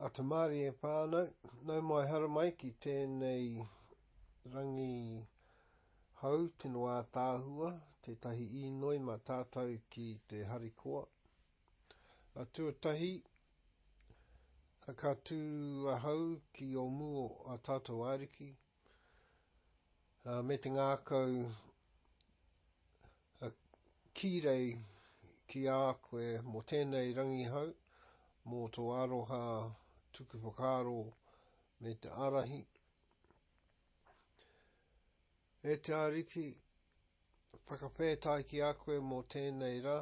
A Te Mārie whānau, nau mai haramai ki tēnei rangi hou tino ātaahua, tētahi īnoi mā tātou ki te harikoa. A Tuatahi, ka tū ahau ki o mū o a tātou Ariki, me te ngākau ki rei ki a koe mō tēnei rangihau, mō tō aroha tuku whakaaro me te ārahi. E te Ariki, Whakawhētai ki a koe mō tēnei rā.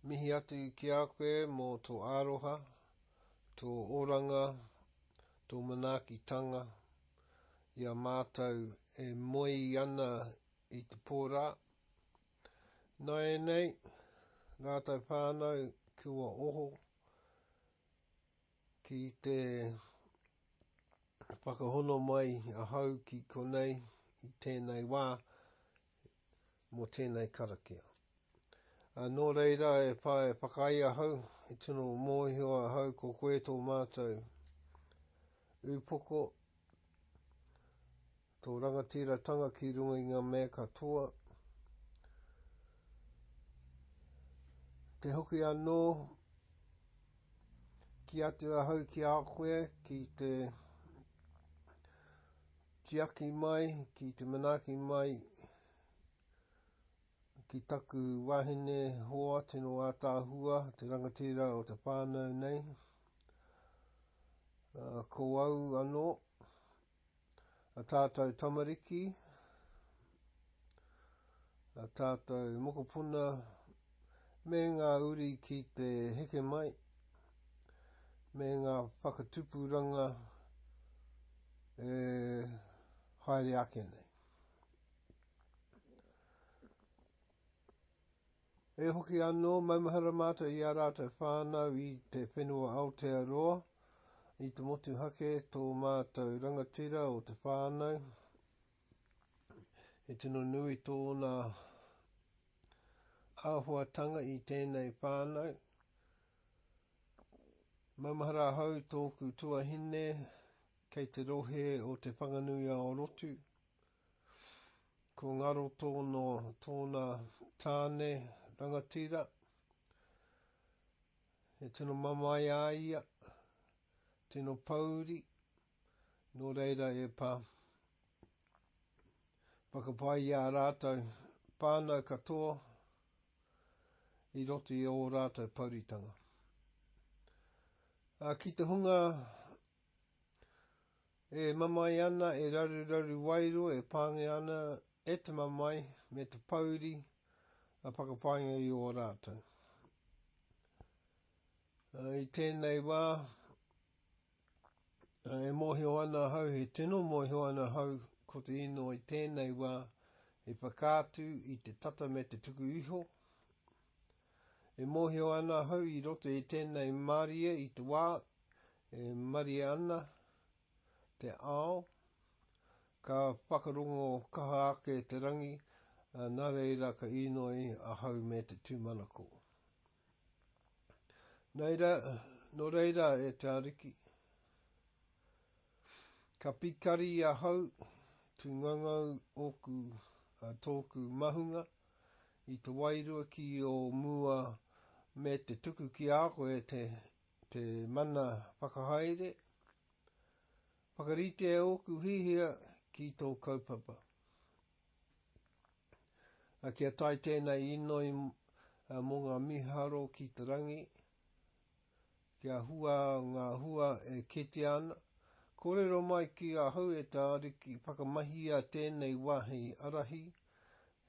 Mihi atu ki a koe mō tō aroha, tō oranga, tō manaakitanga i a mātou e moe ana i te pō rā. Nāianei, rātou whānau, kua oho. Ki te whakahono mai ahau ki konei i tēnei wā mō tēnei karakia. Ā, nō reira e pā, e whakaae ahau, e tino mōhio ahau ko koe tō mātou ūpoko, Tō rangatiratanga ki runga i ngā mea katoa. Te hoki anō ki atu ahau ki a koe, ki te tiaki mai, ki te manaaki mai, ki taku wahine hoa tino ātāhua, te rangatira o te whānau nei. Uh, ko au anō, a tātou tamariki, a tātou mokopuna, me ngā uri ki te heke mai, me ngā whakatupuranga e haere ake nei. E hoki anō, maumahara mātou i ā rātou whānau i te whenua Aotearoa, i te motuhake tō mātou rangatira o te whānau, he tino nui tōna āhuatanga i tēnei whānau, maumahara ahau tōku tuahine kei te rohe o Te Whanganui-a-Orotu, Ko Ngaro tōno, tōna tāne rangatira, he tino mamae a ia, tino pouri, nō reira e Pā. Whakapae i ā rātou whānau katoa i roto i ō rātou pouritanga. Ā, ki te hunga E mamae ana, e raruraru wairua, e pāngia ana e te mamae me te pouri a whakapainga i ō rātou. I tēnei wā, e mōhio ana hau, he tino mōhio ana hau, ko te ino i tēnei wā, i whakaatu i te tata me te tuku iho, E mōhio ana ahau i roto i tēnei mārie i te wā e marie ana te ao, ka whakarongo kaha ake te rangi, nā reira ka inoi ahau me te tūmanako. Nei rā, nō reira e te Ariki, ka pikari ahau, tū ngaungau ōku, tōku mahunga, i te wairua ki ō mua me te tuku ki a koe te, te mana whakahaere, whakarite ōku hihia ki tō kaupapa. Kia tae tēnei inoi mō ngā miharo ki te rangi, Kia hua ngā hua e kitea ana, kōrero mai ki ahau e te Ariki, whakamahia tēnei wā hei ārahi,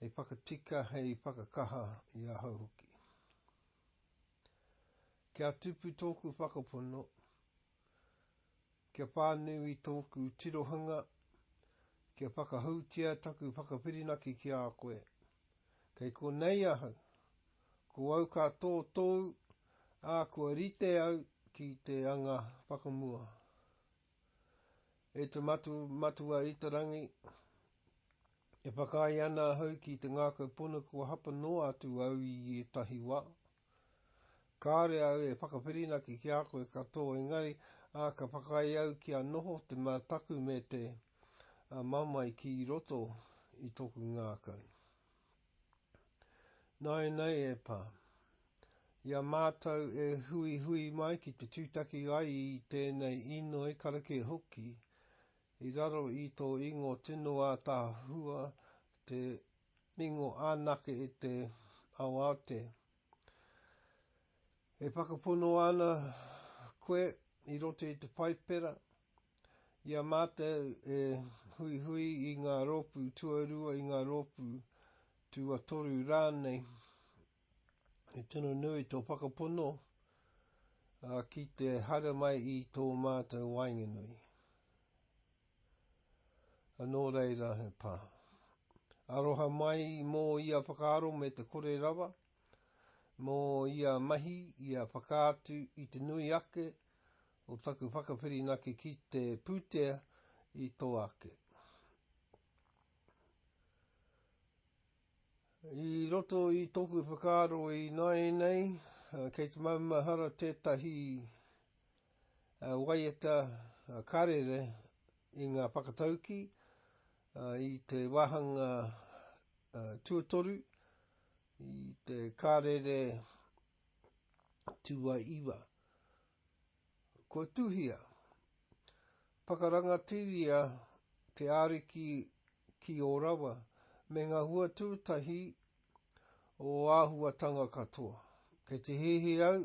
hei whakatika, hei whakakaha i ahau hoki. Kia tupu tōku whakapono, kia whānui tōku tirohanga, kia whakahoutia taku whakawhirinaki ki a koe, Kei konei ahau. Ko au ka tō tōu, ā, kua rite au ki te anga whakamua. E te Matu Matua i te Rangi, e whakaae ana ahau ki te ngākau pono kua hapa noa atu au i ētahi wā, Kāore au e whakawhirinaki ki a koe ka tō engari, ā, ka whakaae au kia noho te mātaku me te mamae ki roto i tōku ngākau. Nāianei e pā. I a mātou e huihui mai ki te tūtaki ai i tēnei inoi karakia hoki, i raro i tō ingo tino ātaahua te Ringo anake i te aoaote. E whakapono ana koe i roto i te Paipera, i a mātou e huihui i ngā rōpū tuarua, i ngā rōpū tuatoru rānei, he tino nui tō whakapono ki te haere mai i tō mātou waenganui. Nō reira he pā. Aroha mai mō ia whakaaro me te kore rawa, mō ia mahi, ia whakaatu i te nui ake o taku whakawhirinaki ki te pūtea i tō ake. I roto i tōku whakaaro i nāianei, kei te maumahara tētahi Waiata karere i ngā whakataukī i te wāhanga tuatoru, i te karere tuaiwa. Kua tuhia, whakarangatiria te Ariki ki ō rawa me ngā hua tuatahi o āhuatanga katoa. Kei te hihi au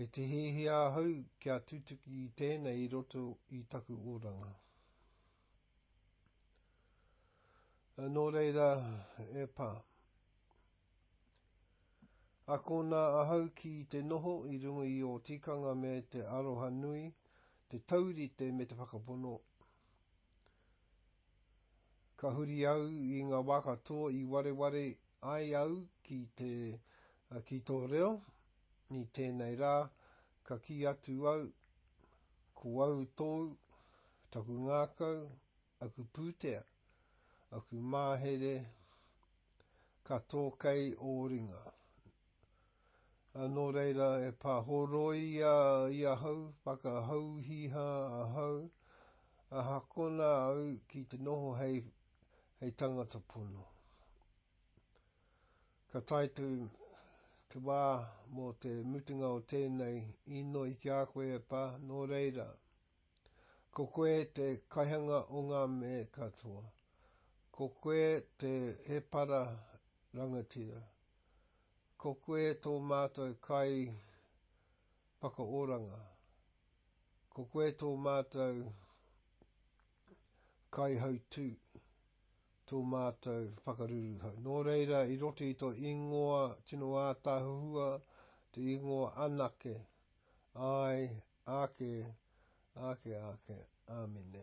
Kei te hiahia ahau kia tutuki i tēnei i roto i taku oranga. Nō reira, e Pā. Akona ahau ki te noho i runga i o tikanga me te aroha nui, te taurite me te whakapono. Ka huri au i ngā wā katoa i wareware ai au ki te, ki tō reo, i tēnei rā, ka kī atu au, ko au tōu, taku ngākau, aku pūtea, aku māhere, ka tō kei ō ringa. Nō reira, e pāhoroia i ahau, whakahauhiha ahau, ahakona au ki te noho hei tangata pono. Ka tae atu te wā mō te mutunga o tēnei inoi ki a koe e Pā, nō reira, ko koe te kaihanga o ngā me katoa, ko koe te hēpara rangatira, Ko koe tō mātou kai whakaoranga. Ko koe tō mātou kai hautū, tō mātou whakaruruhau. Nō reira, i roto i tō ingoa tino ātaahuhua, te ingoa anake, āe, ake, ake, ake. Āmine.